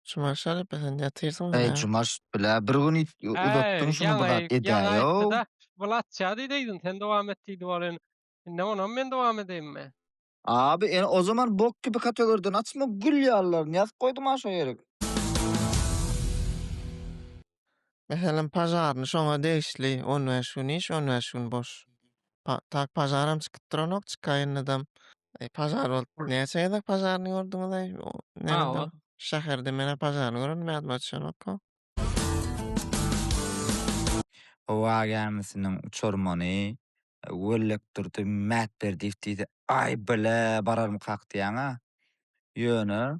Jumaş alyp sen ýatyrsyň Eý, bilen. Jumaş bile bir gün it- Äý, uzatdyň şuny bir ýaňy- zat ýaňy edäýow. aýtdy-da, Bulatja diýdi egin, sen dowam et diýdi ol in. Indi onam men dowam edeýinmi? Abi ene o zaman bok kibi kategoriden açma gül ýallaryny ýazyp goýdum aşo ýerik. Meselem, pažarny şoňa degişli on bäş gün iş, on bäş gün boş. Pa, tak pažaram çykyp duranok, çykaýyndadam. Eý, pažar bolup, näçe gezek pažarny gördüňiz-eý? Nerede? Şäherde men-ä pažarny görendim, ýadyma düşenok-ow. Howa gämisiniň uçarmany Wellekdurdy Mätberdiýew diýdi. Aý, bile, bararmykak diýýän-ä. Ýöne,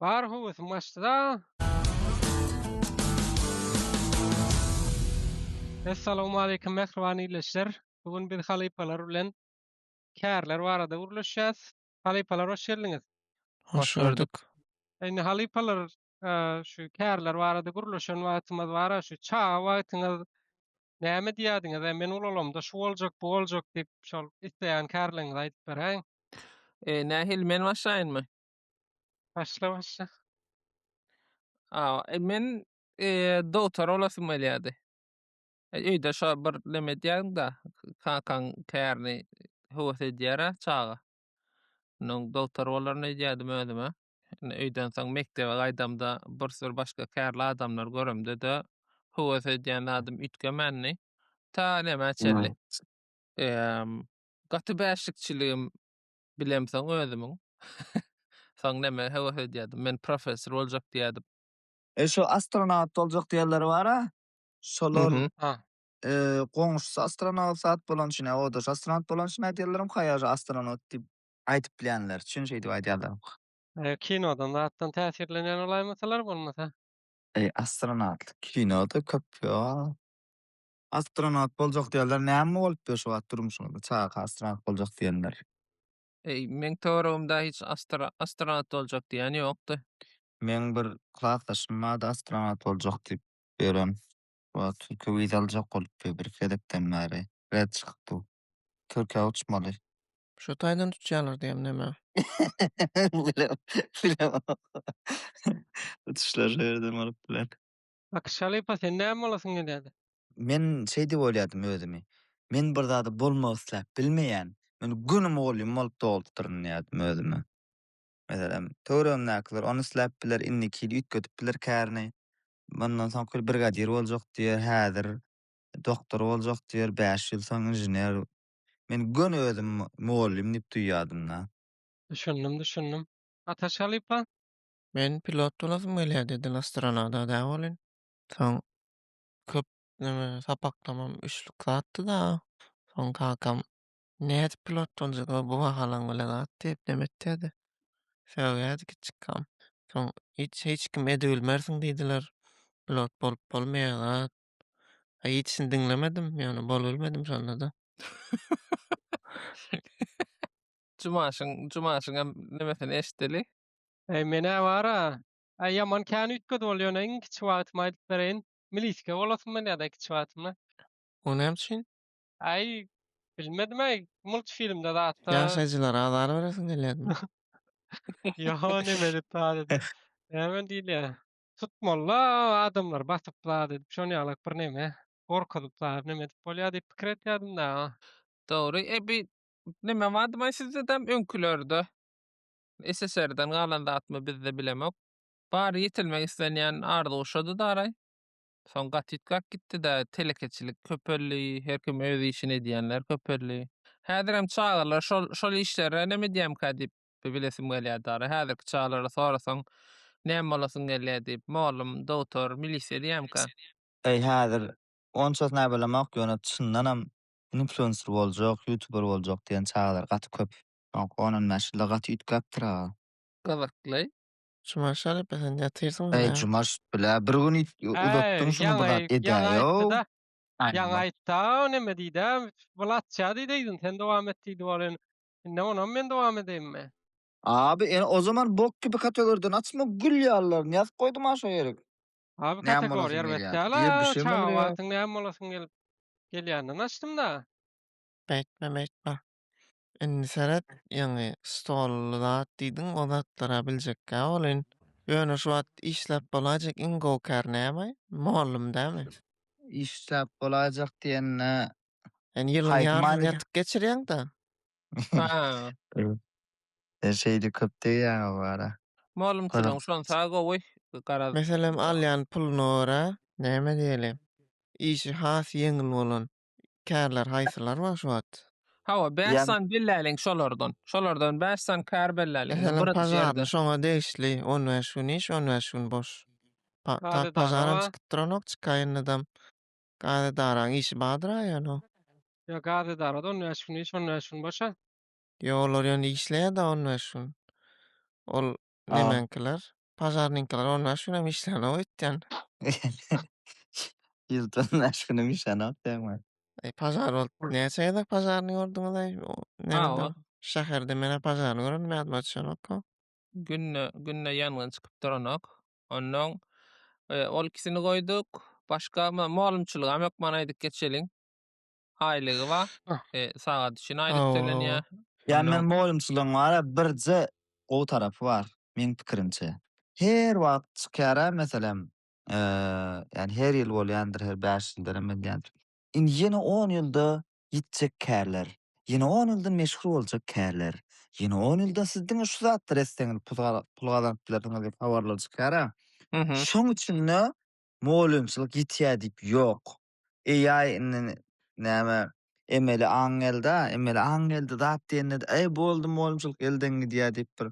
Bar höwesim açdyda. Assalamu alaykum mähriban ildeşler. Bu gün biz halypalar bilen kärler barada gürleşýäs. Halypalar hoş geldiňiz. Hoş gördük. Indi halypalar şu kärler barada gürleşen wagtymyz bar, şu çaga wagtyňyz näme diýýärdiňiz? E, men ulalamda şu boljak, bu boljak diýip, şol isleýän kärleriňizi aýdyp beräýiň. E, nähili men başlaýynmy? Başla başla. Aa, e, men e, doktor olasym gelýärdi. E, Öýde şo bir neme edýäň da, kakaň kärini höwes edýär-ä çaga. Onuň doktor bolaryn öýdýärdim özüme. Indi öýden soň mekdebe gaýdamda bir sürü başga kärli adamlar göremde-de höwes edýän zadym üýtgemändi. Ta nämä çenli. Eee, gaty bäşlikçiligim Bilemsoň özümiň. Soň näme höwes edýärdim. Men professor boljak diýýärdim. E şu astronawt boljak diýenler bar-a. Şolar goňşusy astronawsat bolan üçin, o daş astronawt bolan üçin aýdýarlaram, kaýaja astronawt diýip aýdyp bilýänler üçin şeýdip aýdýarlar. Kinodan zatdan täsirlenýän bolaýmasalar bolmasa. Astronawtlyk kinoda köp ýok. Astronawt boljak diýenler näme bolupdyr şu wagt durmuşyňyzda çaga astronawt boljak diýenler. Eý meň töweregimde hiç astronawt boljak diýen ýokdy. Meň bir klasdaşym bardy astronawt boljak diýip ýören. Wa türkiýe wiza aljak bolupdy bir iki gezekden bäri red çykypdy. Türkiýä uçmaly. Şo taýdan uçýarlar diýem näme. Bilemok. Uçuşlar şu ýerden bolup biler. Akyş halypa sen näme bolasyň gelýädi? Men şeý diýip oýladym özümi. Men bir zady bolmak isläp bilmeýän. Men göni mugallym bolup doglup-dyryn diýýädim özüme. Meselem, töweregimdäkiler ony isläp biler, indiki ýyl üýtgedip biler kärini. Mundan soňky ýyl brigadir boljak diýer, häzir doktor boljak diýer, bäş ýyl soň inžener. Men göni özümi mugallym diýip duýýadym-da. Düşündim, düşündim. Ataş halypa, Men pilot bolasym gelýär dedin astronada dä bolin. Soň köp neme sapaklamam üçlük zatdy da. Soň kakam nädip pilot boljak bu bahalaň bilen zat diýip neme etýärdi. Sögýärdi kiçikam. Soň hiç hiç kim edibilmersiň diýdiler. Pilot bolup bolmaýar zat. A hiçini diňlemedim. Ýöne bolubilmedim şonda-da. Jumaşyň Jumaşyňam nemesini eşiteli. Eý menä bar-a, äý ýaman kän üýtgedi bol, ýöne iň kiçi wagtymy aýdyp bereýin, milisika bolasym gelýärdi-aý kiçi wagtymda. O näme üçin? Äý, bilmedim-aý, multfilmde zatda. Ýaşaýjylara azar beresiň gelýärmi? Ýa neme edip zat edip, näme diýilýär, tutmaly-da adamlary basyp zat edip, şonuň ýalak birneme, gorkuzyp zat neme edip bolýar diýip pikir etýärdim dagy. Dogry, eý bi neme bardy-maý sizde däm öňkülerde? SSR-den galan zatmy bizde bilemok. Bary ýetilmek islenýän arzuw şody daraý. Soň gaty üýtgäp gitdi-dä, telekeçilik köpeldi, her kim öz işini edýänler köpeldi. Häzirem çagalar şol şol işlere näme edýämkä diýip bilesim gelýär daraý. Häzirki çagalara sorasaň, näme bolasyň gelýär diýip, mugallym, dogtor, milisiýa diýämkä. Äý häzir onçasy näbelemok, ýöne çyndanam influencer boljak, ýutuber boljak diýen çagalar gaty köp. Soňky on on bäş ýylda gaty üýtgäpdir aga. Gyzykly. Juman şerepe sen ýatyrsyň Eý bilä. Jumaş bilä bir gün üýt uzatdyň şuny bir zat edäýow. Ýaňy aýtdy-a neme diýdi-ä Wlatça diýdi yzyn sen dowam et diýdi ol indi indi onam men dowam edeýinmi. Abi ene o zaman bok kibi kategorýadan açma gül ýalylaryny ýazyp goýdum-a şo ýere. Abi Näme bolasyn kategoriýa erbet gelýär? däl-a Diýe, bir şey çaga bolýar. wagtyň näme bolasyň gelip gelýänden açdym-da. Beýtme beýtme. Indi seret, ýaňy stolly zat diýdiň, o zatlara biljekkä welin, ýöne şu wagt işläp bolaýjak iň gowy kär näme? Mugallym dämi? Işläp bolaýjak diýende, Sen ýylyň Haýp ýaryny many- ýatyp geçirýäň-da. Sen şeýle köp degýäň o bara. Mugallymçylygyň şonsa gowy, garaz. Meselem, alýan puluna görä, näme diýeli, işi has ýeňil bolan, kärler haýsylar bar şu wagt? Hawa, bäş Ýa- sany belläliň şolardan. Şolardan bäş sany kär belläliň. Indi Eselem bir pažarly ýerde. şoňa degişli on bäş gün iş, on bäş gün boş. Pa- ta- Gadedara pažaram bar. çykyp duranok, çykaýyndydam gadedaraň işi bardyr aýan-ow. Ýa gaz edarada on bäş gün iş, on bäş gün boş-a. Ýok, olar ýöne işleýär-de on bäş gün. Ol Nemäňkiler? Pažarnyňkylar on bäş günem işlänok öýtýän. Ýylda on bäş günem işlänok diýýäňmi? Eý, pažar bolup näçe gezek pažaryny gördüňiz-eý? Nämede? Şäherde men-ä pažaryny görendim, ýadyma düşenok-a. Günde, günde ýangyn çykyp duranok. Onnoň ol ikisini goýduk. Başga, molumçylygam ýok, maňa aýdyp geçeliň. aýlygy bar. E, sagat üçin aýlyk tölenýär. Ýa men moýunçylygyň bar a birje gowy tarapy bar meň pikirimçe. Her wagt çykýar a meselem ýani her ýyl bolýandyr her bäş ýyldanam edýändir. Indi ýene on ýylda ýitjek kärler, ýene on ýylda meşhur boljak kärler, ýene on ýylda siz diňe şu zatlar etseňiz pul gazanyp bilersiňiz diýip habarlar çykýar a. Şoň üçin-de moýunçylyk ýitýär diýip ýok. AI indi näme emeli aň gelda, emeli aň geldi zat diýende äý boldy mugalymçylyk elden gidýär diýip bir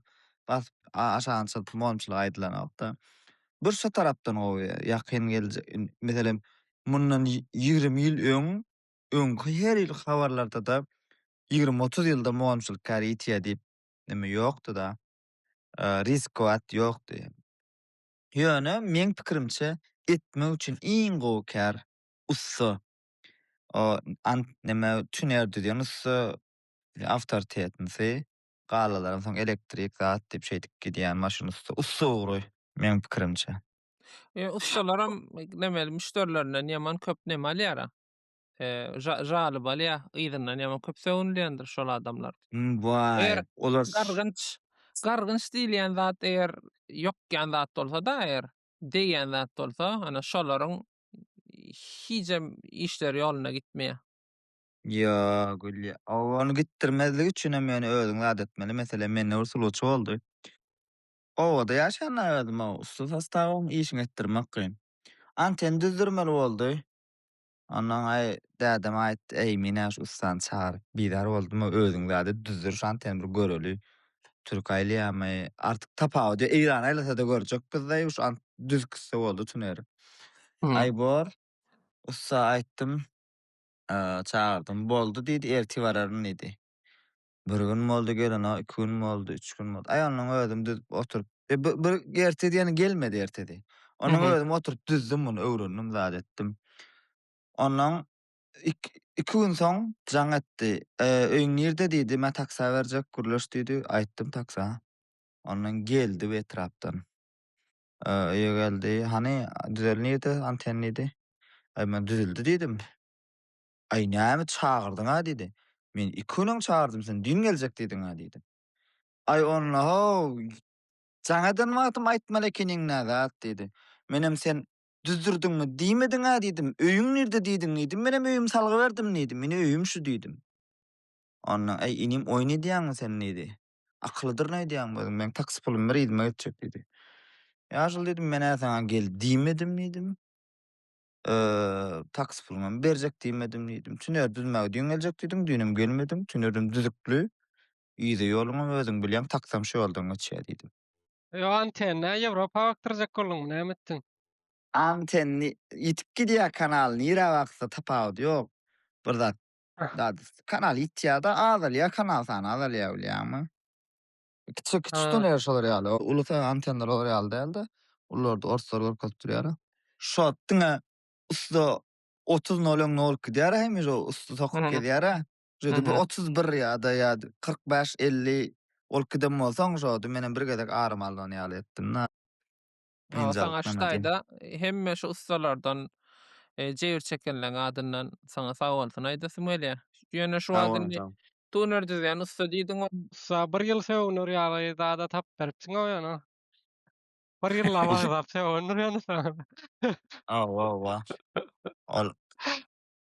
basyp aşagyny çyzyp mugalymçylyk aýdylanokda. Bir şu tarapdan gowy ýakyn geljek meselem mundan ýigrimi ýyl öň öňki her ýyl habarlardada ýigrimi otuz ýylda mugalymçylyk kär ýitýär diýip neme ýokdyda riskwat ýokdy. Ýöne meň pikirimçe etmek üçin iň gowy kär ussa o ant neme tüner düzýän ussa awtortetnsi galalaram soň elektrik zat diýip şeýdip gidýän maşyn ussa ussa ugry meň pikirimçe. Ussalaram neme müşderilerinden ýaman köp neme alýara. jaly bolýar, yzyndan ýaman köp sögünilýändir şol adamlar. Waý, olar gargynç, gargynç diýilýän zat eger ýokýan zat bolsa-da, eger degýän zat bolsa, ana şolaryň hijem işleri ýoluna gitmeýär. Ýok, ony gitdirmezlik üçin hem ýöne özüň zat etmeli. Meselem, mende bir sulawçy boldy. Obada ýaşanda özüm-ow, ussat sostawym, işiňi etdirmek kyn. Anten düzdürmeli boldy. Onnoňaý dädeme aýt, Äýmine şu ussany çagyryp, bizar boldumy, özüň zady düzdür, şan sen bir göreli, türk aýlaýamy, artyk tapawudy ýok, eýran aýlasada görjek bizde, ýuş ant düz kisse boldy tüner. Aý bor, ussa aýtdym, çagyrdym, boldy diýdi, erti bararyn diýdi. Bir gün boldy gelene, iki gün boldy, üç gün boldy. Aý onuň özüm düzüp oturyp, e, bir, bir ertedi ýene gelmedi ertedi. Onuň Mhm. özüm oturyp düzdüm muny, öwrendim, zat etdim. Ondan ik, iki gün soň jaň etdi. E, öýüň nirde diýdi, men taksa berjek, gürleş diýdi. Aýtdym taksa. Ondan geldi bu etrapdan. E, öýe geldi. Hany düzel nirde anten diýdi. Aý men düzüldi diýdim. Aý, näme çagyrdyň-a? diýdi. Men iki günem çagyrdym, sen düýn geljek diýdiň-a diýdim. Aý, onda-how, jaňadan wagtym aýtmaly ekeniň nä zat diýdi. Menem sen düzdürdiňmi diýmediň-a diýdim. Öýüň nirde diýdiň diýdim. Menem öýümi salgyberdim diýdim. Ine öýüm şu diýdim. Onda, aý, inim oýun edýäňmi sen diýdi. Akyllydyr nädýäňmi özüň, meň taksi pulum bir yzyma geçjek diýdi. Ýaşuly diýdim, men-ä saňa gel diýmedim diýdim. Taksi puluňam berjek diýmedim diýdim. Tüneri düzmäge düýn geljek diýdiň, düýnem gelmediň. Tünerim düzükli. Yza ýoluňam özüň bilýäň, taksam şu ýoldan geçýär diýdim. Ýok, antenna Ýewropa bakdyrjak bolduňmy, näme etdiň? Antenni ýitip gidýär kanal, nirä baksa tapawudy ýok. Bir zat, kanal ýitýär-de, azalýar kanal sany, azalýar bilýäňmi? Kiçi kiçi de ne şolar ýaly. Ulusa antenler olar ýaly däldi. Ulularda orslar görkezip durýar. Şo diňe usta 30 noleň nolt gidýär hem ýo usta sokup gezýär. Şo bir 31 ýa-da ýa 45 50 ol giden bolsaň şo menem bir gezek arym alnan ýaly etdim. Aga saňa şu taýda hemme şu ussalardan jebir çekenleň adyndan saňa sag bolsun aýdasym gelýär. Ýöne şu wagt indi tuner düzýän ussa diýdiň. Ussa bir ýyl sögüner ýaly zada tapyp beripsiň-ow ýöne. Bir ýyllap agzap sögündir ýöne saňa. Hawa-hawa. Ol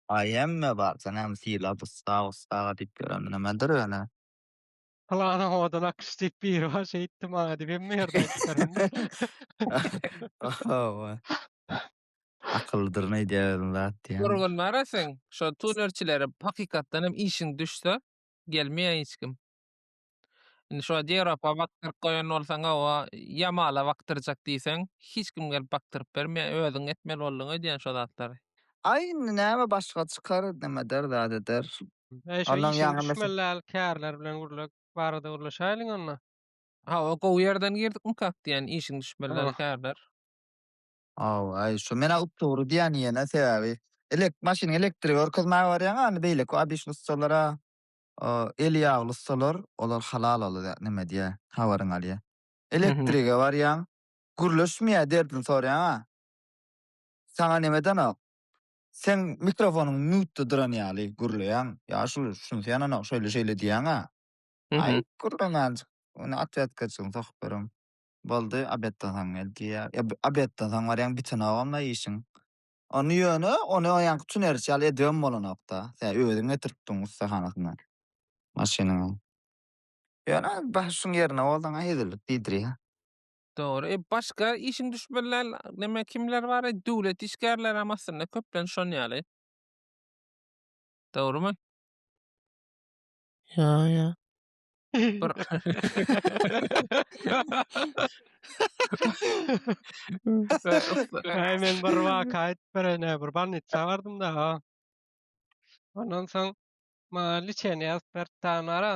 aý hemme bar. Sen hem sylap ussa, ussa diýip ýören nimedir ýöne. Plana oda nakyş diýip biri bar, şeýtdi maňa diýip hemme ýerde aýtdyryn. Hawa. Akyllydyr nädýärin zat diýen. Durgun bara sen, şo tunerçilere hakykatdan hem işiň düşse, gelmeýä hiç kim. Indi şo Dewrapa bakdyryp goýan bolsaň, hawa, Ýamala bakdyrjak diýseň, hiç kim gelip bakdyryp bermeýä, özüň etmeli bolduň öýdýän şo zatlary. Aý indi näme başga çykar, nämedir, zadydyr. Eý şu Ondan işiň ýaňa meşe- düşmeli däl kärler bilen gürlek barada gürleşäýliň onda. Hawa gowy ýerden girdikmi kak diýýän işiň düşmeli däl Oh. kärler. Hawa eý şu men-ä updogry diýýän ýene sebäbi elek maşynyň elektrigi görkezmäge barýaň-a indi beýleki obyçny ussalar-a o eli ýagly ussalar olar halal ol zat neme diýýär habaryňy alýar. Elektrige barýaň gürleşmeýär derdini soraýaň-a. Saňa nemedenok. Seň mikrofonyň mýutda duran ýaly gürleýäň. Ýaşuly düşünseýänanok şeýle şeýle diýýäňä. Aý Mhm. gürlemänjik. Ony otwetkaçygyny sokup bereň. Boldy obedden soň gel diýýär. Ýa bi- obedden soň barýaň bitenogam-la işiň. Ony ýöne ony o ýaňky tüneriçi ýaly edibem bolanok-da. Sen özüň getiripdiň ussahanasyndan maşynyňy. Ýöne baş şuň ýerine bolsaň-a hezillik diýdirýär. Dogry. E, başga işiň düşmeliler, näme kimler bar? E, döwlet işgärleri hem aslynda köplenç şon ýaly. Dogrymy? Ýa, ýa. Bir Ay men bir waka aýdyp berene, bir bolnitsa bardym-da. ha. Ondan soň maňa liçeni ýazyp beripdi anara.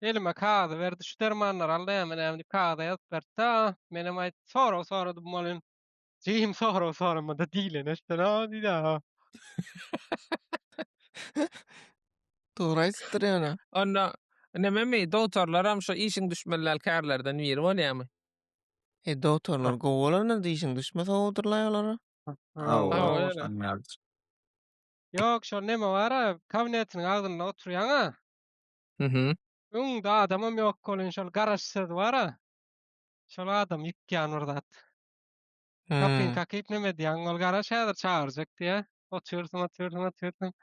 Elime kagyzy berdi, şu dermanlary al näme-näme diýip kagyza ýazyp berdi-de, menem aýt sorag soradym welin, jigim sorag soramada diýleni etsen-a diýdi-a. Dogry aýdypdyr ýöne. Onda nememi, dogtorlaram şu işiň düşmelidäl kärlerden biri bolýamy? E, dogtorlar gowy bolandyr-da, işiň düşme sowabydyrlaý olara. Hawa, Hawa, öýle. şonuň ýalydyr. Ýok, şol neme bar-a, kabinetiniň agzynda oturýan-a. Mhm. Öňde adamam ýok bolyn şol garaş söz bara. Şol adam ýykýan bir zat. Kapyň kakyp neme diýýäň ol garaş häzir çagyrjak diýýä. Otyrsyň otyrsyň otyrsyň.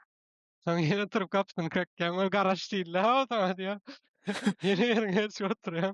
Soň ýene turup gapyny kakýaň ol garaş diýildi hawa saňa diýýä. Ýene ýeriňe düşüp otyrýaň.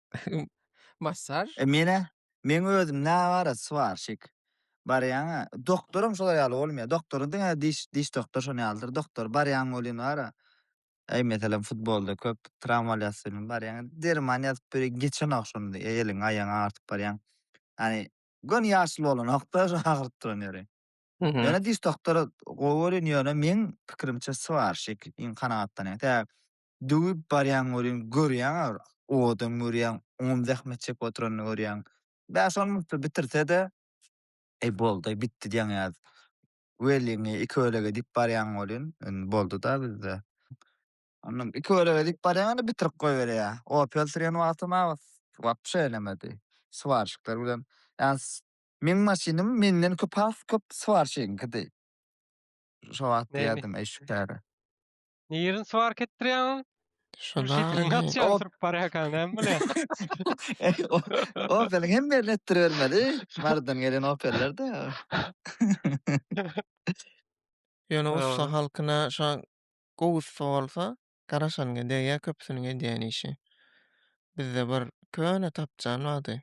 Massar. E menä meň özüm nä bara swarşik barýaňa doktoram şolar ýaly bolmaýa doktory diňe diş diş doktor şony ýalydyr doktor barýaň welin bara eý meselem futbolda köp trawma alýas welin barýaň derman ýazyp biri geçenok şony e eliň aýagyň agyrtyp barýaň ýani göni ýaşuly bolanokda şo agyryp duran ýeri ýöne diş doktory gowy görýän ýöne meň pikirimçe swarşik iň kanagatlanýan tä Döwüp barýaň welin, görýäň agyr odam görýäň, oňam zähmet çekip oturanyny görýäň. Bäş on minutda bitirse-de, eý boldy-aý bitdi diýýäň ýaly. Welin iki bölege diýip barýaň welin, indi boldy-da bizde. Onam iki bölege diýip barýaň indi bitirip goýberýär. Opel sürýän wagtym abas wapşe eýlemedi. Swarşikler bilen, ýa meň maşynym menden köp has köp swarşigiňkidi. Şo wagt diýerdim eý şu käri. Nirin swark etdirýäň? Şuna. Gaçýan sürüp barýarkan, näme bolýar? Opeliň hem ýerini etdiribermeli. Mardan gelen Opellerde. Ýöne ussa halkyna şa gowy ussa bolsa, garaşanyňa degýär köpüsiniň edýän işi. Bizde bir köne tapjan bardy.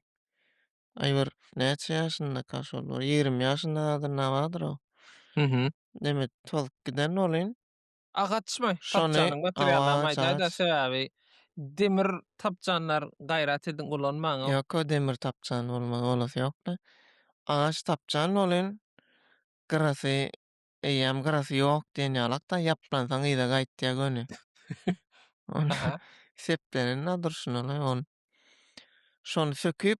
Aý bir näçe ýaşyndaka şol bir ýigrimi ýaşynda zadynda bardyr o. Demek, tozup giden welin, Agaçmy tapjanyň materiallaryny aýdaýda sebäbi demir tapjanlar gaýrat ediň ulanmaň. Ýok o demir tapjan bolmaz bolasy ýokda. Agaç tapjan bolyn gyrasy eýýäm gyrasy ýok diýen ýalakda ýaplansaň yza gaýtýa göni. Seplenenina durşuna ony. Şony söküp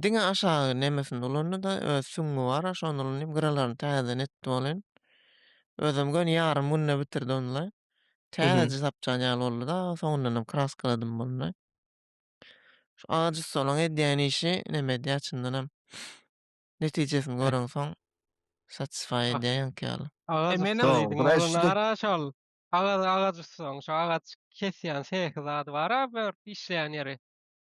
Diňe aşagy nemesini ulandy-da, öz süňňi bar-a, şony ulanyp, gyralaryny täzeden etdi welin, özem göni ýarym günde bitirdi ony-da. Täze sapjan ýaly boldy-da, soňundanam kraskaladym boldy. Şu agaç ussalaryň edýän işi neme edýär, çyndanam, netijesini göreňsoň, satisfy edýär ýaňky ýaly. Agaç ussa diýdiň, ony nara şol, agaç ussalaryň, şo agaç kesýän sehi zady bar-a, bir işleýän ýeri?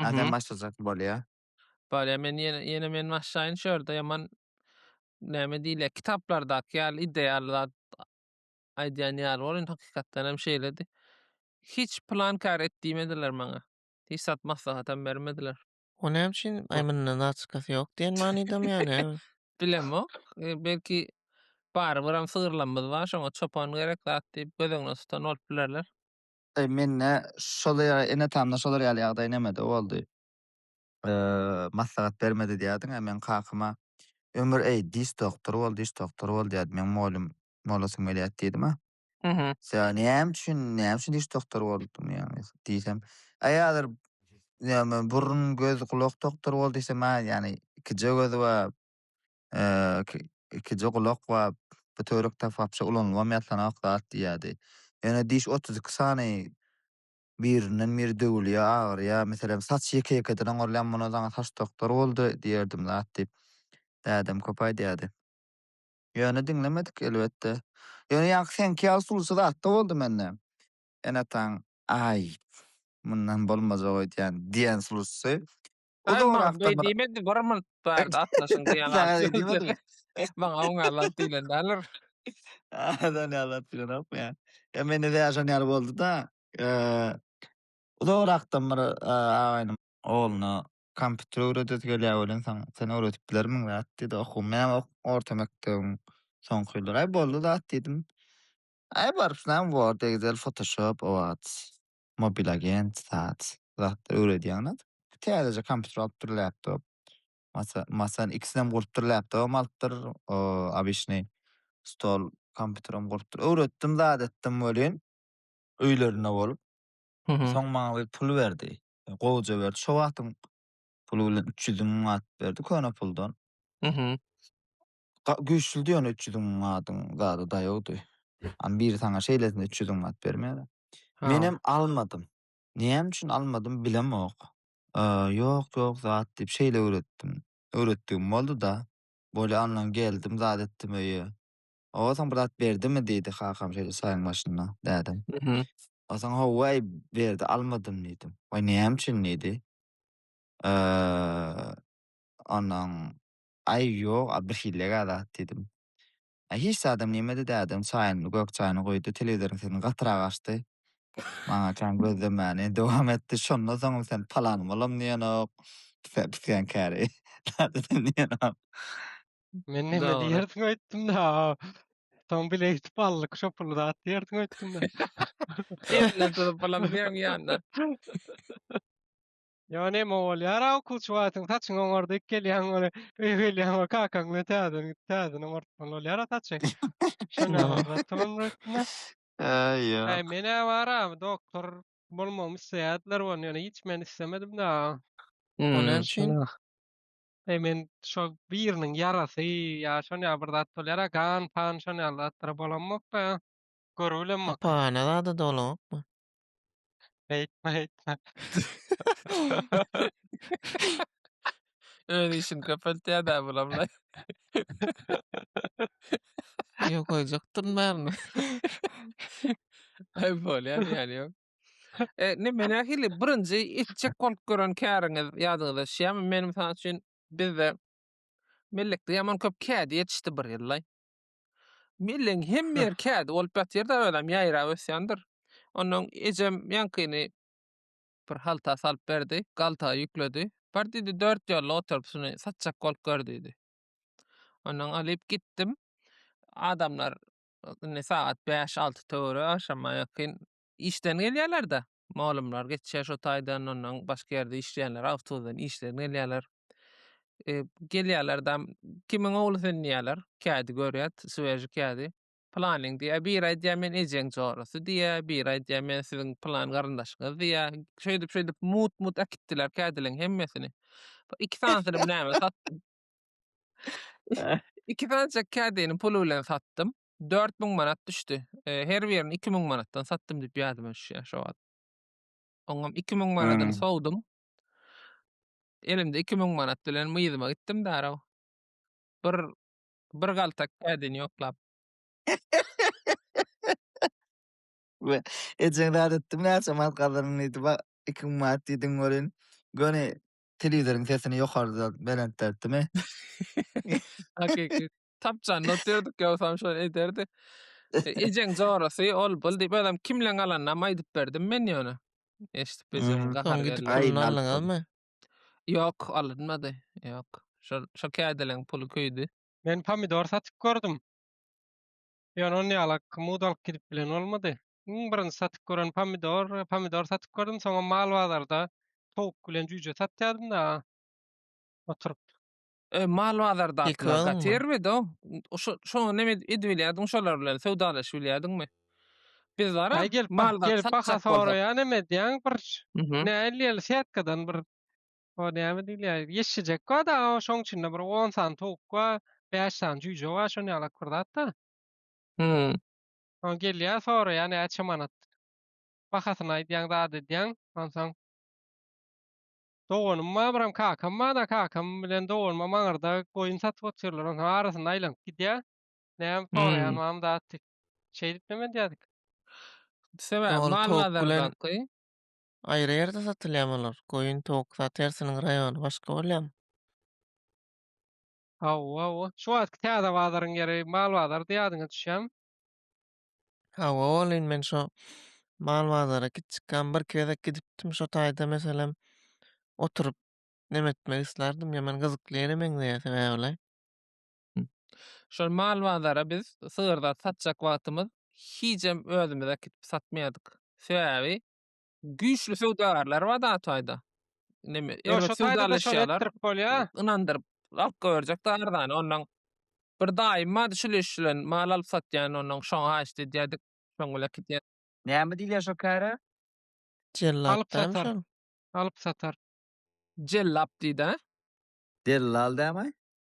Ýa sen Mhm. başlajak bolýa. Bolýa men ýene ýene men başlaýyn şu ýerde ýaman näme diýilýär kitaplardaky ýaly ideal zat aýdýan ýaly bor indi hakykatdan hem şeýledi. Hiç plan kär et diýmediler maňa. Hiç zat maslahatam bermediler. O näme üçin aý mundan zaçkasy ýok diýen manydamy ýa näme? Bilemok. E, Belki barybir hem sygyrlamyz bar şoňa çopan gerek zat diýip göz öňüne tutan bolup bilerler. Daýy mende şol ýaly ene-atamda şolar ýaly ýagdaý nämede boldy? Maslahat bermedi diýýärdiň-ä meň kakama Ömür eý diş doktory bol diş doktory bol diýýärdi meň molym molasym gelýät diýdim-ä. Sebäbi näme üçin näme üçin diş doktory boldum ýagny diýsem aýalar näme burun göz gulak doktory bol diýsem-ä ýagny ikije gözi bar ikiji gulak we bu töwerek tapakça ulanylybam ýatlanok zat diýýärdi. Ýöne diş otuz iki sany birinden-biri döwülýär, agyrýar. Meselem, saç ýeke-ýekeden oňarylýar, muny saňa saç doktory boldy diýerdim zat diýip, dädem köp aýdýardy. Ýöne diňlemedik, elbetde. Ýöne ýaňky seňki ýaly suluja zat-da boldy mende. Enataň, Aý, mundan bolmajak öýdýän, diýen sulusy O da orak da. Diýmedi, bir minut bardy, atlaşyň diýen gaty. Diýmedi. Maňa oň alat diýlen däler. Adan alat diýen ok ya. Ya men de ýaşan ýaly boldy da. O da orakdan bir agaýynyň ogluna kompýuter öwredesi gelýär welin sen sen öwredip bilermiň zat diýdi. Oku men ok orta mekdebiň soňky ýyllary. Aý boldy zat diýdim. Aý baryp näme bor, degizeli fotoshop o wagt. Mobilagent, sat zatlar öwredýäňiz. Täzeje kompýuter alypdyr, laptop. Masa, masan ikisinem gurupdyr, laptobam alypdyr, o, abyşnyý stol, kompýuteram gurupdyr. Öwretdim, zat etdim welin, öýlerinde bolup, soň maňa bir pul berdi. Gowuja berdi. Şo wagtyň puly bilen üç ýüz müň manat berdi, köne puldan. Ga- Güýçlüdi ýöne üç ýüzüň adyň zady daýawdy. Am biri saňa şeýlesine üç ýüzüň at bermäne. Ha. Menem almadym. Näme üçin almadym bilemok. Aa, Ýok, ýok zat diýip şeýle öwretdim. Öwretdigim boldy-da. Bolýa ondan geldim zat etdim öýe. Hawa saň bir zat berdimi diýdi kakam şeýle çaýyň başynda dädem. Mhm. O saň hawa eý berdi almadym diýdim. Waý näme üçin diýdi. Aa, Ondan Aý, ýok, a birhilli-gä zat, diýdim. A hiç zadam diýmedi, dädem çaýyny, gök çaýyny goýdy, telewizoryň sesini gatyrak açdy. Maňa kän gözlemäni dowam etdi, Şondan soňam sen palan bolam diýenok, pisigen käri, zat edem diýenok. Men näme diýersiň öýtdüm-de, soň bile eýtip aldyk, şo puly zat diýersiň öýtdüm-de. Elinden tutup, Bolam diýeň ýa-da. Ýa neme bolýara okuwçy wagtyň saçyň oňardyp gelýäň ony öýe gelýäň we kakaň bilen täzeden täzeden oňartmaly bolýara saçy. Şonda barda tulum rutna. Äý ýok. Äý menä bara doktor bolmagymy isleýärdiler we ýöne hiç men islemedim da. Ol näme üçin? Äý men şo biriniň ýarasy ýa şon ýaly bir zat bolýara gan pan şon ýaly zatlara bolammok da. Görübilemmok. Hapahana zada dolanokmy? Aýtma, aýtma. Öz işini köpeltýär da bulamla. Yok koyacakdyn barmy? Ay bolýar yani yok. E, ne men ahili birinci etjek bolup gören käriňiz ýadyňyza düşýärmi? Men mysal üçin bizde mellekde ýaman köp kädi ýetişdi bir ýyllay. Milliň hemme ýeri kädi bolup ýatyrda özem ýaýrap ösýändir. Ondan ejem ýaňkyny bir halta salyp berdi, galtaga ýükledi. Bar diýdi, dört ýolly oturyp şuny satjak bolup gör diýdi. Ondan alyp gitdim. Adamlar indi sagat bäş-alty töweri agşama ýakyn işden gelýärler-de, mugallymlar geçýär şo taýdan, ondan başga ýerde işleýänler awtobusdan işlerine gelýärler. E, gelýärler-de, kimiň ogly sen diýýärler, kädi görýär, sveži kädi. Planyň diýýär, biri aýdýar men ejeň jorasy diýýär, biri aýdýar men siziň plan garyndaşyňyz diýýär. Şeýdip şeýdip mut-mut äkitdiler kädileriň hemmesini. Bir Iki sanysyny bilen satdym. Iki sanjak kädini pul bilen satdym. dört müň manat düşdi. E, her birini iki müň manatdan satdym diýip ýazdy men şu şo wagt. Oňam iki müň manadyny Hmm. sowdum. Elimde iki müň manat bilen myzyma gitdim darag. Bir bir galtak kädini ýoklap. Ejeň zat etdim näçe manat gazandym diýdi. Bak 2000 manat diýdiň görün. Göni telewizoryň sesini ýokarda belentdertdimi? Hakyky. tapjanda otyrdyk ýogsam şony ederdik. E, ejeň jorasy ol bul diýip özem kimleň alanyny aýdyp berdim men ýöne. Eşidip ejem hmm, gahar geldi. Puluny aldyňyzmy? Ýok, alynmady. Ýok. Şol şo kädeleň puly köýdi. Men pomidor satyp gördüm. Ýöne ony ýalak kymud alyp gidip bilen bolmady. Iň birinji satyp gören pomidor, pomidor satyp gördüm, soňam mal bazarda towuk bilen jüýje satýardym-da. Oturyp E, mal bazarda Ýykylaňmy? gatermidi o. Şo şoňa neme ed- edibilýärdiň şolar bilen söwdalaşyp bilýärdiňmi? Biz wara Aý gelip mal bak, gelip baha satjak bolsak. soraýan hem edýän bir Mhm. näleýär setkadan bir o näme diýilýär ýeşşejek bar da o şoň içinde bir on sany towuk bar bäş sany jüýje bar şony ýalak bir zat da Hmm. o gelýär soraýar näçe manat bahasyny aýdýaň zat edýäň onsoň Doganym Abram kakam bar-da, kakam bilen doganymam aňyrda goýun satyp oturýarlar, onsoň arasynda aýlanyp gidýär. Näme soraýan Hmm. mam zat diýip. Şeý diýip neme diýerdik. Sebäbi Doly mal towuk bilen- bazardaky. Aýry ýerde satylýamy olar? Goýun, towuk zat hersiniň raýony başga bolýamy? Hawa, hawa. Şu wagtky täze bazaryň ýeri mal bazary diýýärdiňiz düşýämi? Hawa, welin men şo mal bazara gitjikkäm birki gezek gidipdim. Şo taýda meselem oturyp neme etmek islardim. Ýaman gyzykly ýere meňzeýär sebäbile. Şol mal bazara biz sygyr zat satjak wagtymyz hijem özümiz äkidip satmaýardyk. Sebäbi güýçli söwdagarlar bar da taýda. Neme, Ýo, erbet şo taýda da şol söwdalaşýarlar. etdirip bolýa. Ynandyryp, alyp goýberjek da arzany. Ondan bir daýym bardy, şul iş bilen mal alyp satýan, ondan şoňa haýyşt edýärdik. Şoň bilen gidýär. Näme diýilýär şo käre? Jellap Alyp dämi satar. şol? Alyp satar. Jellap diýdi-ä. Dellal dämi?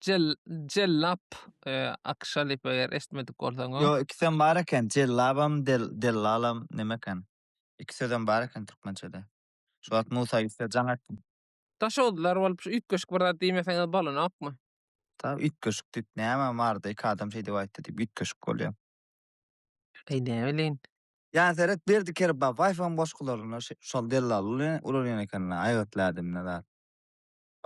Jell Jellap e, Akşa diýip eger eşitmedik bolsaň o. Yo ikisem bar eken. Cellabam, del, dellalam neme eken? İki sözem bar eken türkmençede. Şu wagt Musa Ýusuf'a jaň etdim. Daşoguzlylar bolup şu üýtgeşik bir zat diýmeseňiz bolanokmy? Ta üýtgeşik diýip näme barda iki adam şeý diýip aýtdy diýip üýtgeşik bolýar. Eý näbilin. Ýa seret Berdi Kerba Baýfam goşgularynda şi- şol dellal uly- ulalýan ekenler aýgytly ädimde zat.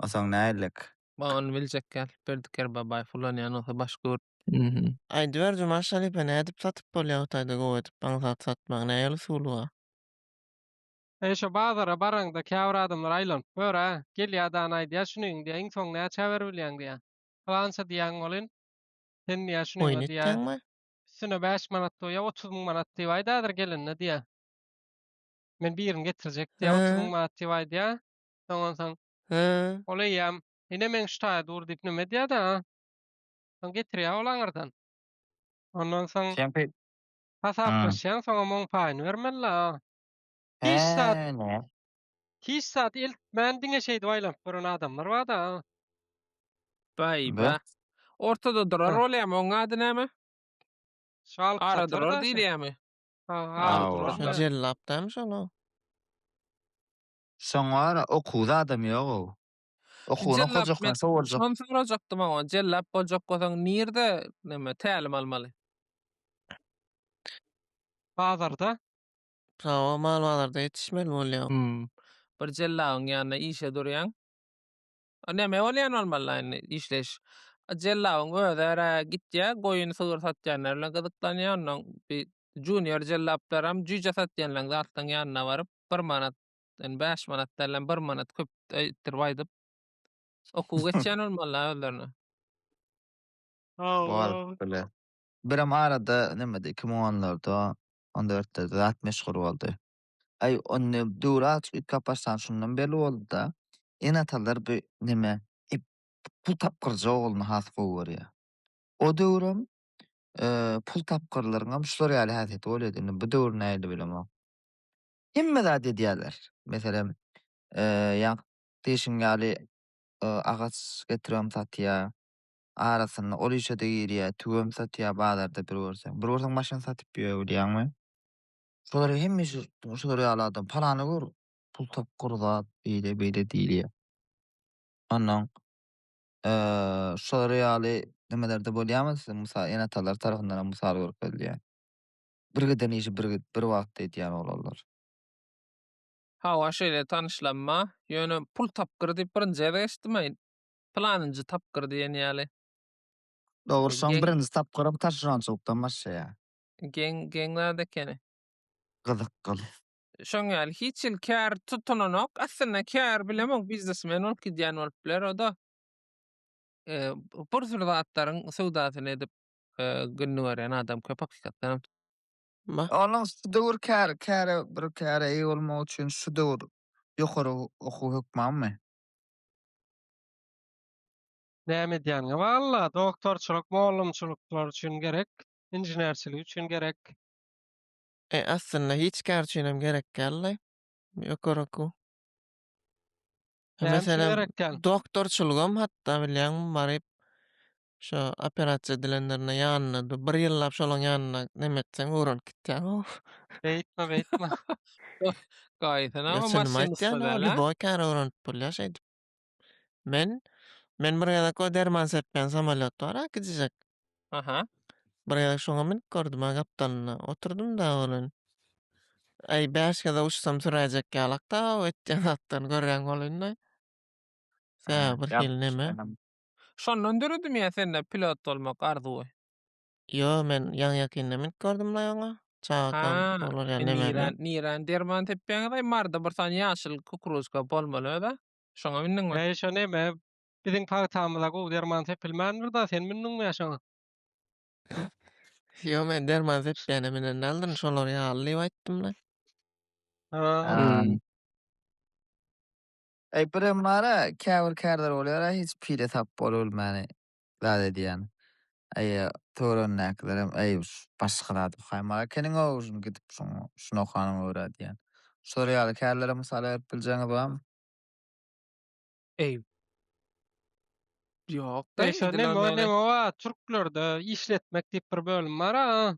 O soň näeýlek? Ba ony biljek ýaly Berdi Kerbabaýew ulanýan bolsa baş gör. Mhmm. Aýdyber Juman şalypa nädip satyp bolýa Hytaýda gowy edip aňsat satmagy näýol usulyba. Eý şo bazara baraňda käbir adamlar aýlanyp gör-ä, gelýä dany aýdýa şuny diýä iň soň näçä beribilýäň diýä. Pylança diýýäň welin, sen diýä şuny Oýun diýä etýäňmi? üstüne bäş manat goýýa otuz müň manat diýip aýdadyr gelende diýä. Men birini getirjek diýä otuz müň manat diýip aýdýa. Soňan soň. He. Ol eýýäm ine meň şu taýa dur diýip näme edýär-de. Soň getirýär ol aňyrdan. Ondan soň. Şeýle. Hasaplaşýaň, soňam oň paýyny bermeli-le. Hiç zat. Hiç zat eltmän diňe şeýdip aýlanyp gören adamlar bar-da. Baý bah. Ortada durar bolýamy, oň ady näme? Şal. Ara durar diýilýämi? Ha, ara durar. Jellapdamyş ol-a. Soňara okuwda adam ýog-ow. Okuwyny okajak men şo boljak. Şony sorajakdym oňa. Jellap boljak bolsaň nirde neme tälim almaly? Bazarda. Hawa mal bazarda ýetişmeli bolýaň. Hum. Bir jellabyň ýanynda işe durýaň. O näme bolýan bolmaly indi işleýiş. Jellabyň özi ara gitýä, goýun sygyr satýanlar bilen gyzyklanýa, ondan bir junior jellaplaram jüýje satýanlaň zatlaň ýanyna baryp, bir manat, indi bäş manat dälem bir manat köp öýtdirip aýdyp okuw geçýän bolmaly özlerine. Baryp bile. Birem arada nämede iki müň onlarda, on dörtlerde zat meşhur boldy. Aý, onda döwri aç üýtgäp başlan şondan belli boldy-da. Ene-atalar bu neme? Ep, pul tapgyrjy ogluny has gowy görýär. O döwrem pul tapgyrlaryňam şular ýaly häsiýeti bolýardy. Indi bu döwri nähili bilemok. Hemme zat edýärler. Meselem, ýa-da diýşiň ýaly agaç getiribem satýar. Arasynda ol işe-de girýär, tüwem satýar bazarda bir görseň. Bir görseň maşyn satyp ýör, bilýäňmi? Şolary hemmesi şular ýaly adam. Palany gör, pul tapgyr zat, beýle beýle diýilýär. Ondan şolary ýaly nimelerde bolýarmy siziň mysal ene-atalar tarapyndan hem mysal görkezilýär. Bir giden işi bir bir wagtda edýän oglanlar. Hawa şeýle tanyşlanma, ýöne pul tapgyr diýip birinji gezek eşitdimaýn. Pylanynjy tapgyr diýen ýaly. Dogrusyň birinji tapgyram taşeronçylykdan başlaýar. Geň, geň zat ekeni. Gyzyk gyz. Şoň ýaly hiç hili kär tutulanok. Aslynda kär bilemok, biznesmen bolup gidýän bolup biler o-da. E, bir sürü zatlaryň söwdasyny edip e, gününi görýän adam köp hakykatdan hem. Ma. Onuň şu döwür kär, käre bir käre eýe bolmak üçin şu döwür ýokary okuw hökmanmy? Näme edýäniňe bagly-la, doktorçylyk, mugallymçylyklar üçin gerek. inženerçiligi üçin gerek. E, aslynda hiç kär üçinem gerek däldi. Ýokary okuw. Näme üçin gerek däl? doktorçylygam hatda bilýäňmi baryp şo operasiýa edilenlerinde ýanyna dur. Bir ýyllap şolaň ýanynda neme etseň öwrenip gitýäň-ow. Beýtme, beýtme. Gaýysyna Ýa, o çynymy maşynist aýtýan-a, däl-ä? lýuboý kär öwrenip bolýar şeýdip. Men men bir gezek o derman sepýän samolýot bar-a gijijek. Aha. Bir gezek şoňa münüp gördüm-ä gapdalyna. Oturdym-da welin, Äý, bäş gezek uçsam süräýjek ýalak-da o etýän zatlaryny görýän bolun-da. Tä bir hili neme. Şondan döredimi ýa sende pilot bolmak arzuwy? Ýo, men ýaňy-ýakynda münüp gördüm-laý oňa. Çagakam Ha, olar ýaly nirä, nemeler. nirä derman sepýäňiz-aý? Marda bir sany ýaşyl kukuruzka bolmaly öz-ä. Şoňa mündiňmi? Häý, şo neme, biziň pagtamyza gowy derman sepilmändir-da, sen mündiňmi-ä şoňa? Ýo, men derman sepýäne münen däldirin, şolar ýaly diýip aýtdym-da. Hä. Eý, birem bar-a, käbir kärler bolýar-a, hiç pile tap bolubilmäni. zat edýän. Aý, töweregindäkilerem, Aý, başga zat okaýmaly ekeniň-ow, şuny gidip şoňa, şuny okanyňa görä diýýän. Şular ýaly kärleri mysal berip biljegiňiz barmy? Aý. Ýok-da, indi men näme. Türklerde işletmek diýip bir bölüm bar-a.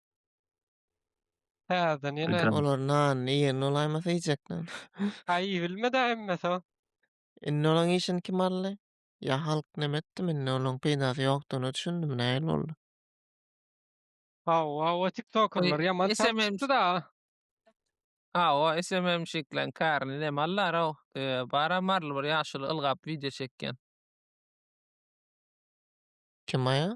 Täzeden ýene. Ýa. Olar nanyny iýen bolaýmasa iýjek nan. Aý iýilmedä emmesi-o. Indi olaň işini kim aldy? Ýa halk neme etdim indi olaň peýdasy ýokdygyna düşündimi nähili boldy? Hawa o tiktokerler ýaman çalt SMM. çykdy-da. Ha o SMMşikleň kärini neme alýar-ow? Tüe, bar-a maryly bir ýaşuly ylgap wideo çekýän. Kim aýa?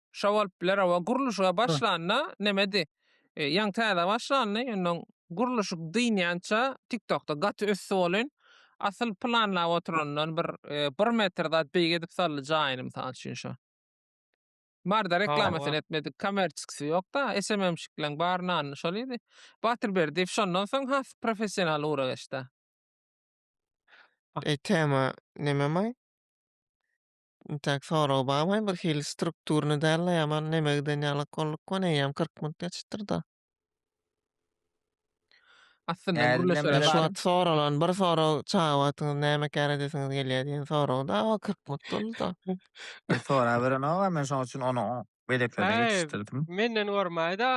Şo bolup biler oba gurluşyga başlanda nemedi. E, ýaňy täze başlandy. Ýöne gurluşyk dynýança TikTokda gaty ösdi bolyn. Asyl planlap oturandan bir e, bir metr zat beýik edip saldy jaýyny mysal üçin şo. Barda reklamasyny etmedik, kommersiýasy ýok-da, SMM-şikleň bar nany şol idi. Batyr Berdiýew şondan soň has professional ura geçdi. E, tema neme maý? Intäk soragy babaý birhili strukturny dälde ýaman neme giden ýalak bolduk gone eýýäm kyrk minut geçipdirda. Aslynda Ädimden gürleşere Mena şu barym. wagt soralan bir sorag çaga wagtyňyz näme kär edesiňiz gelýär diýen sorag da o kyrk minut bolduda. Men soraberenogam men şoň üçin ony oň beýleklerine Häý. ýetişdirdim. Menden gormaýda.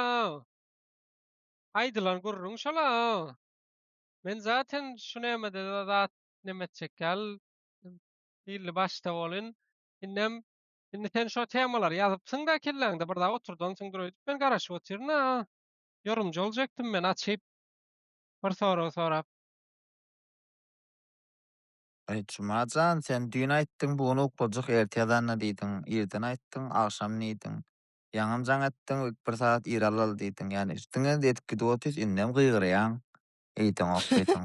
Aýdylan gürrüň şola. Men zaten şu nämede zat neme etjek ýaly Illi başda bolyn. Indem indi sen şo temalary ýazypsyň-da kelläňde bir zat oturdansyňdyr öýdüp men garaşyp otyryn-a. Ýorumjy boljakdym men açyp bir sorag sorap. Eý, Juma jan, sen düýn aýtdyň, bu gün uklajyk erte ýazanda diýdiň. Irden aýtdyň, agşam diýdiň. Ýaňam jaň etdiň, ilk bir sagat ir alaly diýdiň. Ýa-ni üstüňe diýip gidip otyrys, indem gygyrýaň. Eýdeňok diýdiň.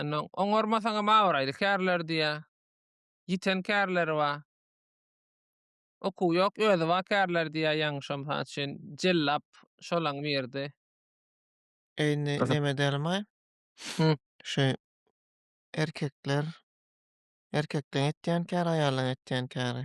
Indi oňarmasaňam abraýly kärler diýýär. Ýiten kärleri bar. Okuw ýok, özi bar kärler diýýär ýaňyşam mysal üçin Jellap şolaň biridi. Eý indi Gyzyp. neme dälmaý? Hı. Şu erkekler erkekleň etýän käri, aýallaň etýän käri.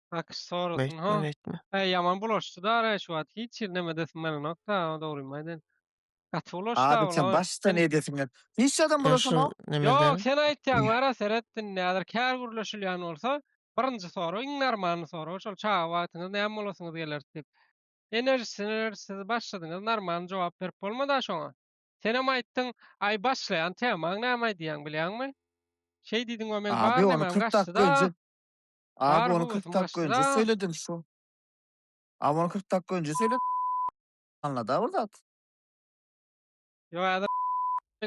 Nakyş sorasyn ha. Beýtme beýtme. He ýaman bulaşdy da ara şu wagt hiç ýerine edesim gelenok da dogrymy aýdaýyn. Gaty bulaşdy Abi sen bular. başdan edesiň gel. Hiç adam Sen bulaşan şu yok. Ýok nemeden? sen aýtýaň ara seret indi häzir kär gürleşilýän bolsa birinji sorag iň narmany sorag şol çaga wagtyňyz näme bolasyňyz gelerdi diýip. Enerjisi enerjisi siz başladyňyz narmany jogap berip bolmada şoňa. Senem aýtdyň aý başlaýan temaň näme aýdýaň bilýäňmi? Şeý diýdiň we meň Abi bar ony nemem 40 dakika gaçdyda. önce Abi ony kyrk dakika önje söylediň şu. Abi ony kyrk dakika önje söylediň. Aňlada bir zat. Yo ada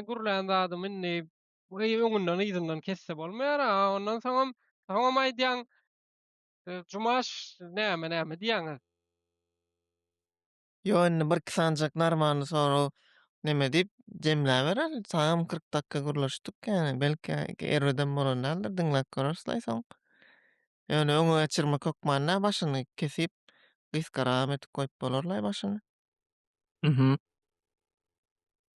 gürlän zadym indi bu eý öňünden yzyndan kesse bolmaýar a ondan soňam soňam aýdýaň Jumaş näme näme diýýäňiz. Ýok, indi birki sanjak narmandy, soraw neme diýip jemläberer. Saňam kyrk dakga gürleşdik, ýani belki erbedem bolan däldir, diňläp göreris-laý soň. Ýöne öňe geçirmek hökmanda başyny kesip, gysgaragam edip goýup bolar-laý başyny. Mhm.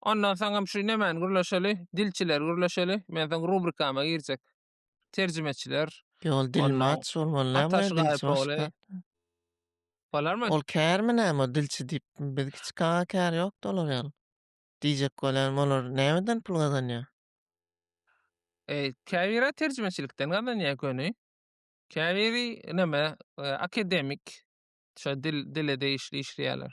Ondan soň hem şu nemäni gürleşeli, dilçileri gürleşeli. Men soň rubrikama girjek. Terjimeçiler. Ýol dilmaç bolmaly Ataş Gaýypogly. Bolarmy? Ol kärmi näme dilçi diýip? Biz kiçik aga kär ýok-da olar ýaly. Diýjek bolýan olar nämeden pul gazanýar? E, käbiri terjimeçilikden gazanýar göni. Käbiri näme, e, akademik şo dil dile degişli işleýärler.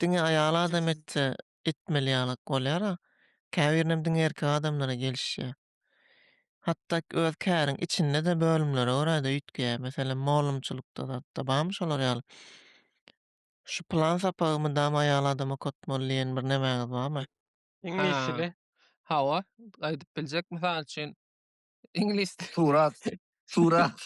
Diňe aýal adam etse etmeli ýalyk bolýara, käbirinem diňe erkek adamlara gelişýä. Hatda öz käriň içinde-de bölümlere görä-de üýtgeýä. Meselem, molumçylykda zatda barmy şolar ýaly? Şu plan sapagy mydama aýal adam okatmaly diýen bir nemäňiz barmy? Iňlis dili. Hawa, aýdyp biljek. Mysal üçin, Iňlis dili. Surat. Surat.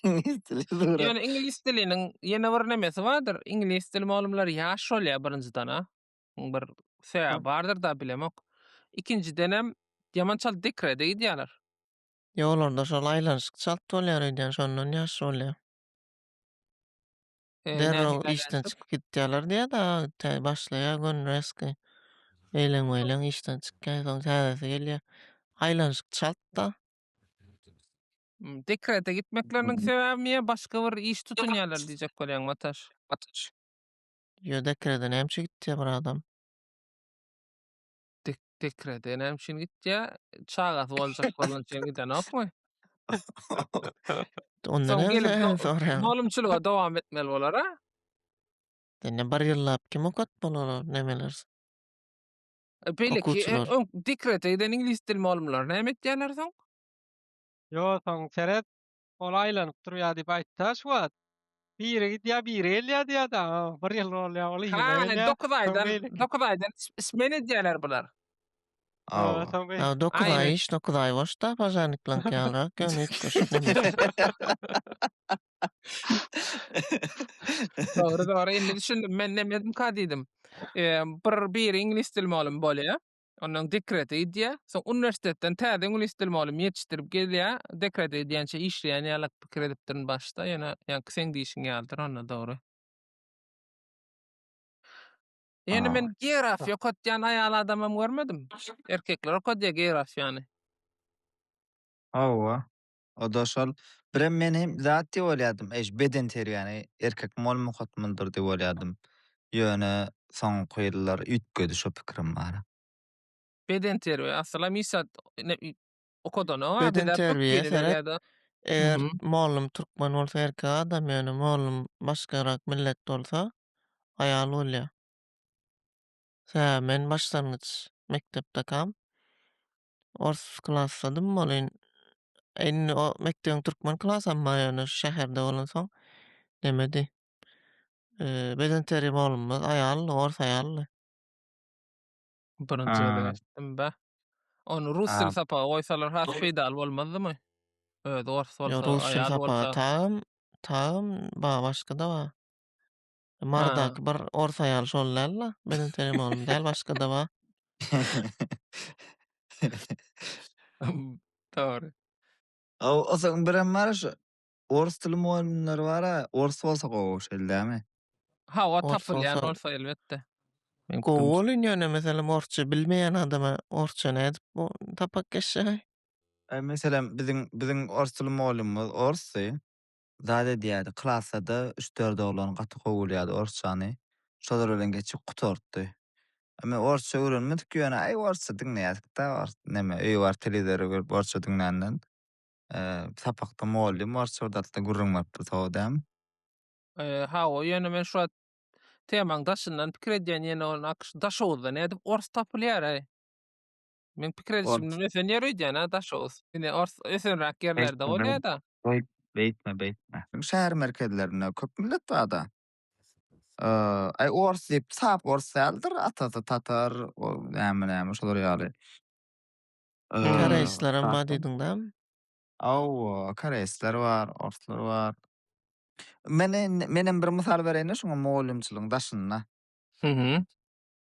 Iňlis dili surat. Ýöne iňlis diliniň ýene bir nemesi bardyr. Iňlis dili mugallymlary ýaş bolýar birinjiden-ä. Muň bir sebäbi bardyr da bilemok. Ikinjidenem ýaman çalt dekrede gidýärler. Ýolarda şol aýlanyşyk çalt bolýar öýdýän şondan ýaş bolýar. e, Derrew nähili işden aýlandyp? çykyp gitýärler diýýär-de, tä başlaýar gün rezki. Eýleň-meýleň işden çykýar, soň täzesi gelýär. Aýlanyşyk çalt-da. Hmm, Dekrete gitmekleriniň sebäbimi ýa başga bir iş tutunýarlar diýjek bolýaň, Mataş? Mataş. Ýo dekrede näme üçin gitýär bir adam? Dekrete näme üçin gitýär? Çagasy boljak bolan üçin gidenokmy? Ondan hem soraýan. Molumçylyga dowam etmeli bolar a? Indi bir ýyllap kim okat bolar o nemeler? E, beýleki e, dekrete giden iňlis dil molumlary näme etýärler soň? Ýo, soň seret, Ol aýlanyp durýar diýip aýtdy-ha şu wagt. Biri gidýär, biri gelýär diýýär-de, a, bir ýyl bolýar, ol ýene gelýär. Hany, dokuz aýdan, dokuz aýdan smen edýärler bular. Aw, dokuz aý iş, dokuz aý boş-da, pažarniklaryňky ýalyrak, ýöne hiç bir şik näme. Dogry, dogry, indi düşündim, men nemedim-ka diýdim. Bir, biri iňlis dil mugallymy bolýar. Ondan dekrete gidýär. Soň uniwersitetden täze iňlis dili mugallym ýetişdirip gelýär. Dekrete gidýänçä işleýän ýalak pikir edipdirin başda. Ýöne ýaňky seň diýşiň ýalydyr onda dogry. Ýöne men geografiýa okatýan aýal adamam görmedim. Erkekler okadýar geografiýany. Hawa. Oda şol. Birem men hem zat diýip oýladym, eý, şu bedenterbiýäni erkek mugallym okatmalydyr diýip oýladym. Ýöne, soňky ýyllar üýtgedi şo pikirim bar. Bedenterbiýe, asylam hiç zat okadanok-a, bize köp Bedenterbiýe gelýär seret. ýa-da Eger Mhm. mugallym türkmen bolsa erkek adam, ýöne mugallym başgarak millet bolsa aýal bolýar. Sebäbi men başlangyç mekdepdekam, ors klassadym bolin indi o mekdebiň türkmen klasam bar ýöne şu şäherde bolansoň nemedi bedenterbiýe molumyz aýaldy ors aýaldy. Birinji gezek eşitdim bä. Ony rus dili sapaga goýsalar has peýdaly bolmazdymy? Özi ors bolsa aýal bolsa. Rus dili sapaga taýyn taýyn bar başga-da bar. Mardaky bir ors aýaly şol dälmi? Meniň tenim oglum däl, başga-da bar. Dogry. Osoň birem bar şu ors dili mugallymlary bar-a, ors bolsa gowy şeýle dälmi? Hawa, tapylýan bolsa elbetde. Gowy bolun ýöne meselem orsça bilmeýän adama orsça nädip bu tapak geçjek-aý? Meselem biziň biziň ors dili mugallymymyz orsdy. zat edýärdi. Klasda-da üç-dört oglan gaty gowy bilýärdi orsçany. Şolar bilen geçip gutartdy. A men orsça öwrenmedik ýöne aý orsça diňleýärdik-de ors neme öýe baryp telewizora görüp orsça diňländen. Sapakda mugallym orsça bir zatlar gürrüň beripdi sowa dämi. Hawa ýöne men şu wagt temaň daşyndan pikir edýän ýene ony akşy daşoguzda nädip ors tapylýar-aý. Men pikir edişimden ösen ýer öýdýän-ä Daşoguz. Ine ors ösenräk ýerlerde bolýa-da. Beýt, beýtme, beýtme. Şäher merkezlerinde köp millet bar-da. Aý ors diýip, sap ors däldir, atasy tatar, näme-näme şular ýaly. Koreýslaram bar diýdiň dämi? Hawa, koreýsler bar, orslar bar. Men, menem bir mysal bereýin-de şuňa mugallymçylygyň daşynda. Hü-hü.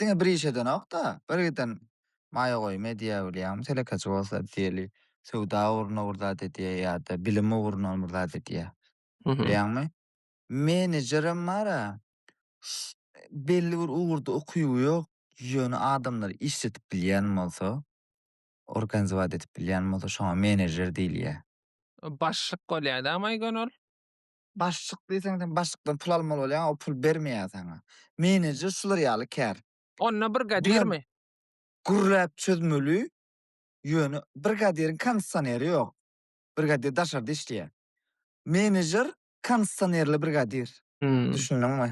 Diňe bir iş edenok-da, bir giden maýa goýum edýär bilýäňmi, telekeçi bolsa diýeli, söwda ugruna bir zat edýär ýa-da bilim ugruna bir zat edýär. Bilýäňmi? Menejerem bar-a, belli bir ugurda ukyby ýok, ýöne adamlary işledip bilýän bolsa, organizować edip bilýän bolsa, şoňa menejer diýilýär. Başlyk bolýar-da, maýgon ol? Başlyk diýseň sen başlykdan pul almaly bolýaň o pul bermeýär saňa. Menejer şular ýaly kär. Onda brigadirmi? Gürläp çözmeli ýöne brigadiriň kondisioneri ýok. Brigadir daşarda işleýär. Menejer kondisionerli brigadir. Düşündiňmi?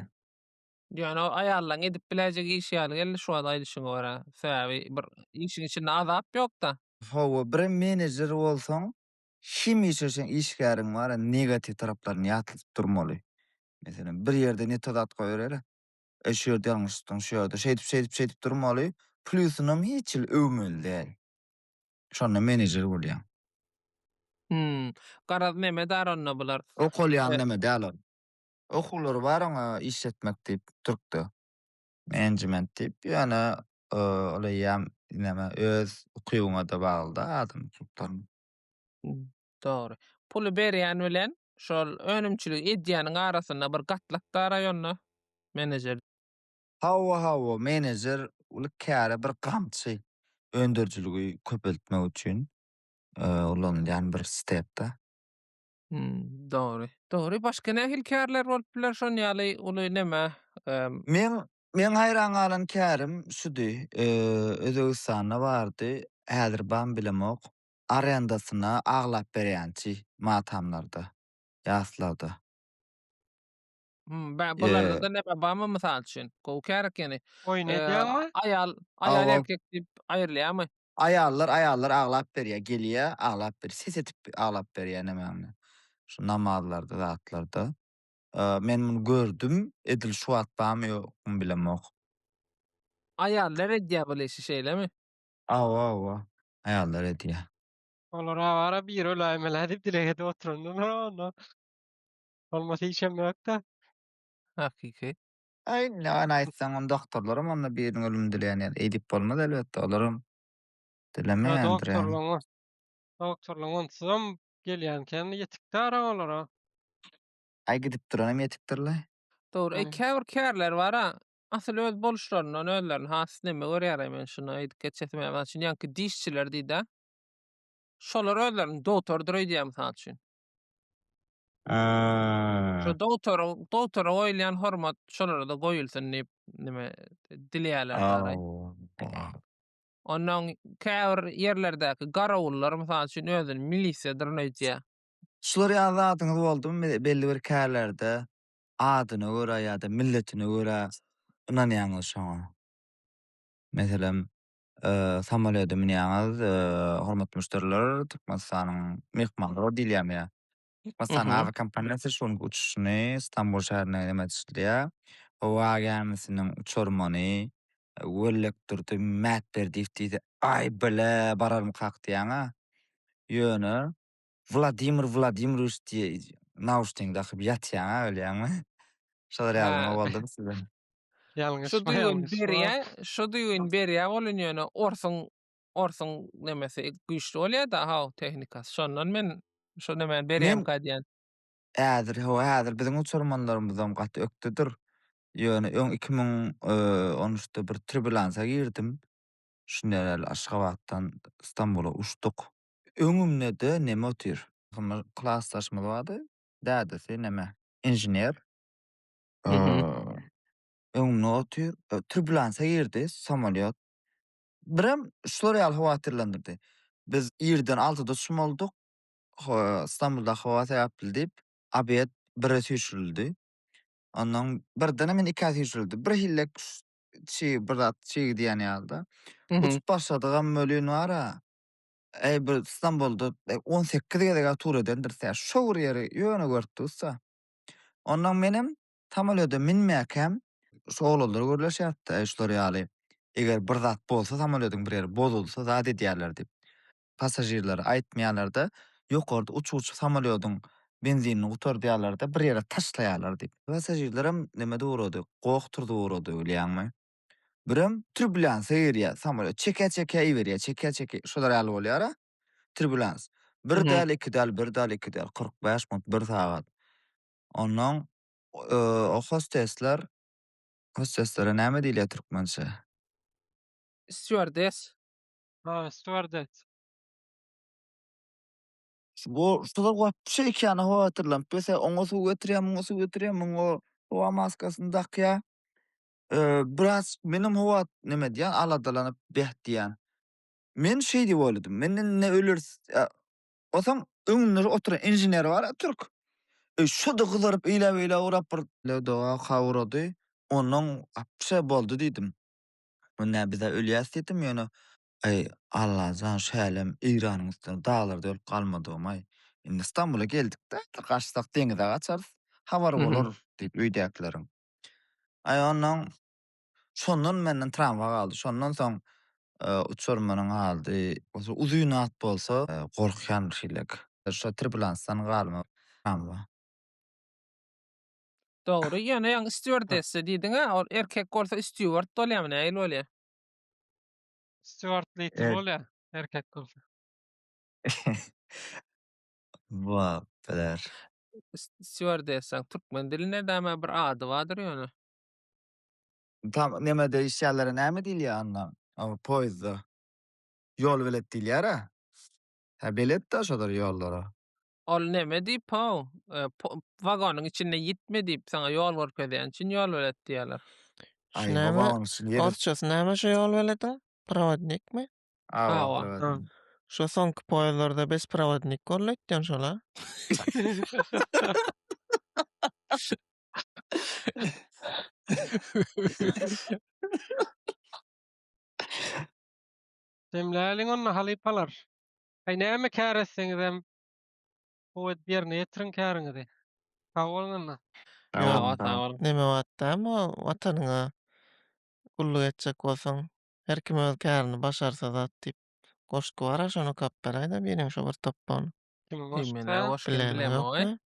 Ýöne ol aýallaň edip biläýjek işi ýaly geldi şu wagt aýdyşyňa görä. Sebäbi bir işiň içinde azap ýokda. Hawa birem menejer bolsaň Kim işleseň işgäriň bara negatiw taraplaryny ýatladyp durmaly. Meselem, bir ýerde ne to zat goýbereli, Eý, şu ýerde ýalňyşdyň, şu ýerde şeýdip, şeýdip, şeýdip durmaly. Plýusynam hiç hili öwmeli däl. Şonda menejer bolýaň. Hum. Garaz neme dar onda bular. Okalýan neme däl ol. Okuwlary bar oňa işletmek diýip, türkde. Management diýip, ýöne ol eýýäm näme öz ukybyňa-da bagly-da adam ukyplaryň. Dogry. Puly berýän bilen şol önümçiligi edýäniň arasynda bir gatlak bar aýonda menejer. Hawa, hawa, menejer uly käre bir gamçy. Öndürijiligi köpeltmek üçin ulanylýan bir step-da. Hmm, dogry. Dogry, başga nähili kärler bolup biler şon ýaly uly näme? Ehm. Meň meň haýran galan kärim şudy, eee, Özbegistanda bardy, häzir bam bilemok, arendasyna aglap berýänçi matamlarda, ýaslarda. Hmm, ba bularda ne babamy mysal üçin? Gowy kär ekeni. Oýun edýäňmi? Aýal, aýal Awa. erkek diýip aýrylýarmy? Aýallar, aýallar aglap berýär, gelýär, aglap ber, ses edip aglap berýär nämäňni. Şu namazlarda, zatlarda. Eee, men muny gördüm, edil şu wagt barmy, ýokmy bilemok. Aýallar edýär bul işi, şeýlemi? Awa, awa. Aýallar edýär. Olar awara biri öläýmelä diýip dileg edip oturandylar onda. Bolmasy hiçem ýok-da. Hakyky. Aý, näme aýtsaň, onda doktorlaram onda biriniň ölümini dileýändir. Eýdip bolmaz elbetde, olaram dilemeýändir ýaly. Doktorlaryň onsuzam gelýän kän ýetikdi ara olara. Aý, gidip duranam ýetikdir-le. Dogry. Eý, käbir kärler bar-a, asyl öz boluşlaryndan özlerini has neme görýär-aý, men şuny aýdyp geçesim gelýär. Mysal üçin, ýaňky dişçiler diýdi-ä. Şolar özlerini dogtordyr öýdýär, mysal üçin. Şu dogtoryň dogtora goýulýan hormat şolara-da goýulsyn diýip, nime dileýärler daraý. Ondan käbir ýerlerdäki garawullar, mysal üçin, özüni milisiýadyr öýdýär. Şular ýaly zadyňyz boldumy, belli bir kärlerde adyna görä ýa-da milletine görä ynanýaňyz şoňa? Meselem, Samolýoda münýäňiz, hormatly müşderiler, Türkmenistanyň myhmanlary diýilýärmiýa? Türkmenistanyň awiakompaniýasy şu günki uçuşyny Stambul şäherine emele düşürýär. Howa gämisiniň uçarmany Wellekdurdy Mätberdiýew diýdi. Aý, bile, bararmykak diýýän-ä. Ýöne, Wladimir Wladimirowiç diýe nauşnigiňi dakyp ýatýaň-a bilýäňmi? Şolar ýaly nima boldumy size? Şu düýbüni berýä, şu düýbüni berýä bolun ýöne orsuň, orsuň nemesi güýçli bolýa-da how tehnikasy. Şondan men şu nemäni berýämka diýýän. Häzir, hawa häzir biziň uçurmanlarymyzam gaty ökdedir. Ýöne öň iki müň on üçde bir tribülansa girdim. Şunda ýaly Aşgabatdan Stambula uçduk. Öňümde-de neme otyr? Hymyr klasdaşymyz bardy. Dädesi neme, inžener. Öňümde otyr. Türbülansa girdi samolýot. Birem şular ýaly howatyrlandyrdy. Biz irden altyda çymaldyk. Stambulda howa sebäpli diýip, obed bire süýşürildi. Ondan birdenem indi ikä süýşürildi. Birhili çig, bir zat çig diýen ýaly-da. Uçup başladygam welin bar-a, Eý, bir Stambulda on sekiz gezeg-ä tur edendiris-ä. Şo bir ýeri ýöne görüp durus-a. Onnoň menem samolýoda münmäkäm şu oglanlar gürleşýärdi-de, eý, şular ýaly, eger bir zat bolsa, samolýodyň bir ýeri bozulsa, zat edýärler diýip, passažirlere aýtmaýarlar-da, ýokarda uçgujy samolýodyň benzinini gutardýarlar-da, bir ýere taşlaýarlar diýip. Passažirlerem neme-de ugrady, goh turzup ugrady, bilýäňmi? Birem tribulýansa girýär, samolýot çekä-çekä iberýär, çekä-çekä, şolar ýaly bolýar-a, tribulýans. Bir Mhm. däl, iki däl, bir däl, iki däl, kyrk bäş minut, bir sagat. Onnoň e, o hostesler, hosteslere näme diýilýär türkmençe? Stýuardes. Ha, stýuardes. Şu bu şular wapşe iki ýana howatyrlanyp, bese oňa suw getirýär, muňa suw getirýär, muňa howa maskasyny dakýar. biraz menem howa neme edýän, aladalanyp beh diýýän. Men şeý diýip oýladym, men indi ne öleris, otaň öňünde oturan inžener bar-a türk, şo-da gyzaryp eýläk-beýläk urap bir, doga-ka urady, onnoň wapşe boldy diýdim. Indi-ä biz-ä ölýäs diýdim, ýöne, aý, Allajan, şälem Eýranyň üstüne daglarda ölüp galmadygym-aý, indi Stambula geldik-de, gaçsak deňize gaçarys, habar bolar diýip öýdäkileriň. Aý onnoň şondan menden trawma galdy. Şondan soň uçar meniň aldy. Bolsa uzyn at bolsa gorkýan bir şeýlek. Şo tribulansdan galma trawma. Dogry ýöne ýaňy stýuardessa diýdiňä ol erkek bolsa stýuard bolýamy nähili bolýa. Stýuard lider bolýa erkek bolsa. Bolup biler. Stýuardessaň türkmen dilinde däme bir ady bardyr ýöne. Tam nemede işýärlere näme diýilýär anna o poýezdda? Ýol belet diýilýär-ä. Hä beletdä şolar ýollara. Ol neme diýip-ow, wagonyň içinde ýitme diýip saňa ýol görkezýän üçin ýol belet diýýärler. Şu näme, orsçasy näme şu ýol belediň? Prowodnikmi? Awa. Şu soňky poýezdlarda bes prowodnik boldy aýtýan şol a. Jemläliň onda halypalar. Aý näme kär etseňizem howat ýerine ýetiriň käriňizi. Sag boluň onda. Neme wagtda bu watanyňa gulluk etjek bolsaň Her kim öz kärini başarsa zat diýip goşgy bara şony kapberaýda biriň şu bir topbagyny. Kim goşsa bilemok-aý.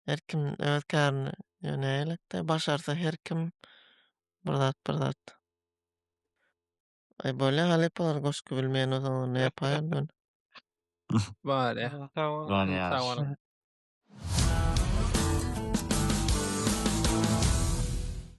Her kim öz kärini ýo nägelikde başarsa her kim bir zat bir zat. Aý bolýa halypalar goşgy bilmeýän bolsaňyz onda ýapaýaly men. Bolýa. Ýöne ýagşy.